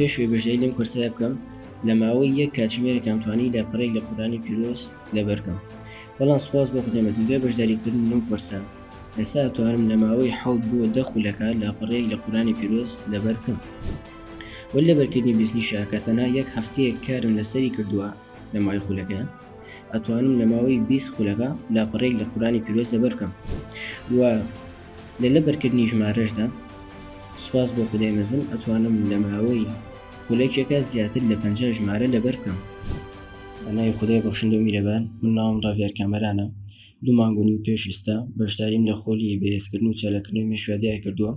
پێش وەی بەژداری لەم کۆرسایە بکەم لە ماوەی یەک کاتژمێرێکم توانی لە پڕێک لە قورانی پیرۆز لەبەرکەم بەڵام سپاس بۆ خدای مەزن دوای بەشداریکردن لەم کۆرسە ئێستا توانم لە ماوەی حەوت بۆ دە خولەکە لاپەڕەیەک لە قورانی پیرۆز لەبەرکەم وەل لەبەرکردنی بیستنیشە کە تەنها یەک هەفتەیەک کارم لەسەری کردووە لە ماوەی خولەکە ئەتوانم لە ماوەی بیست خولەکە لاپەڕەیەک لە قورانی پیرۆز لەبەرکەم و لە لەبەرکردنی ژمارەشدا سوپاس بۆ خودای مەزن ئەتوانم لە ماوەی خولەکێکا زیاتر لە پەنجا ژمارە لەبەر بکەم. بە ناوی خودای بەخشندەو میرەبان من ناوم ڕاڤیار کامەرانە دوو مانگ و نیو پێش ئیستا بەشداریم لە خۆلی بەهێزکردن و چالاککردنەوەی مێشویا دیار کردووە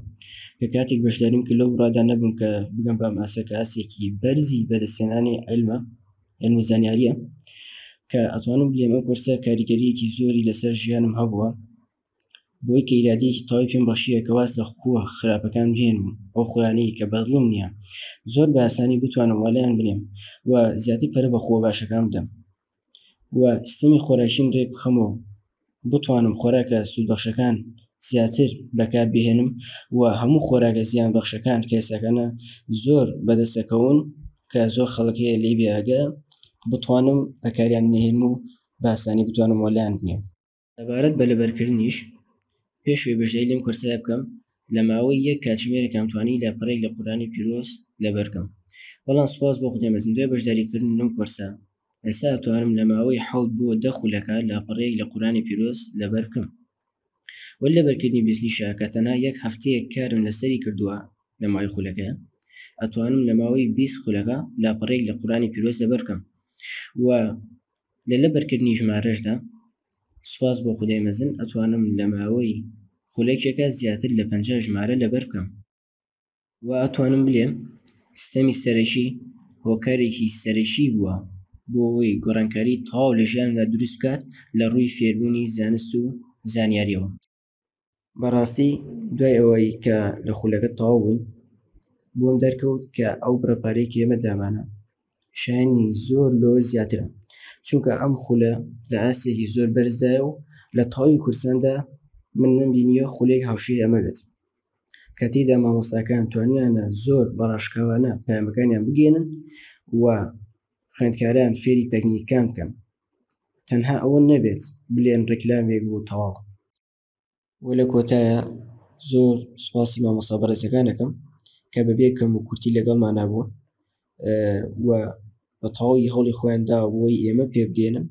کە کاتێک بەشداریم کرد لەو بڕادا نەبووم کە بگەم بە ئەم ئاستە کە ئاستێکی بەرزی بەدەستهێنانی عیلمە عیلم و زانیاریە کە ئەتوانم بلێم ئەم کۆرسە کاریگەریەکی زۆری لەسەر ژیانم هەبووە. بۆی کە ئیرادەیەکی تەواوی پێم بەخشیە کە واز لە خووە خراپەکان بهێنم و ئەو خووانەی کە بەدڵم نیە زۆر بە ئاسانی بتوانم والێیان بنێم و زیاتر پەرە بە خووە باشەکان بدەم و سیستەمی خۆراکیم رێک بخەمەوە و بتوانم خۆراکە سوودبەخشەکان زیاتر بەکار بهێنم و هەموو خۆراکە زیان بەخشەکان کە ئێستاکانە زۆر بەدەست ئەکەون کە زۆر خەڵک هەیە لێی بێ ئاگایە بتوانم بەکاریان نەهێنم و بە ئاسانی بتوانم والێیان بنێم. سەبارەت بە لەبەرکردنیش، پێشەوەی بەشداری لەم کۆرسایە بکەم، لە ماوەی یەک کاتژمێرێکام توانی لاپەڕەیەک لە قورئانی پیرۆز لەبەر بکەم، بەڵام سوپاس بۆ خودای مەزن دوای بەشداریکردن لەم کۆرسە ئێستا ئەتوانم لە ماوەی حەوت بۆ دە خولەکە لاپەڕەیەک لە قورئانی پیرۆز لەبەر بکەم. وەلی لەبەرکردنی بیسنیشە کە تەنها یەک هەفتەیەک کارم لەسەری کردووە لە ماوەی خولەکەیا ئەتوانم لە ماوەی بیست خولەکە لاپەڕەیەک لە قورئانی پیرۆز لەبەر بکەم و لە لەبەرکردنی ژمارەشدا سوپاس بۆ خودای مەزن ئەتوانم لە ماوەی خولەکێکا زیاتر لە پەنجا ژمارە لەبەر بکەم. وا ئەتوانم بلێم ستەمی سەرەکی هۆکارێکی سەرەکی بووە بۆ ئەوەی گۆڕانکاری تەواو لە ژیانمدا دروست بکات لە ڕووی فێربوونی زانست و زانیاریەوە. بەڕاستی دوای ئەوەی کە لە خولەکە تەواو بووین بۆم دەرکەوت کە ئەو بڕە پارەی کە ئێمە دامانە شایەنی زۆر لۆ زیاترە چونکە ئەم خولە لە ئاستێکی زۆر بەرزدایە و لە تەواوی کوردستاندا من نەمبینیە خولێک هاوشێی ئەمە بێت کە تێدا مامۆستاکان توانیانە زۆر بەڕاشکاوانە پەیامەکانیان بگەێنن و خوێندکاران فێری تەکنیکان بکەن تەنها ئەوە نەبێت بلێن ڕیکلامێک بوو تەواو. وە لە کۆتایە زۆر سوپاسی مامۆستا بەڕێزەکان ئەکەم کە بەبێ کەم و کورتی لەگەڵمانا بوون و بە تەواوی هەوڵی خۆیان داوە بۆی ئێمە پێبگەینن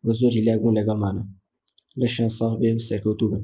و زۆر هیلاک بوون لەگەڵمانا لەشیان ساغ بێ و سەرکەوتوو بن.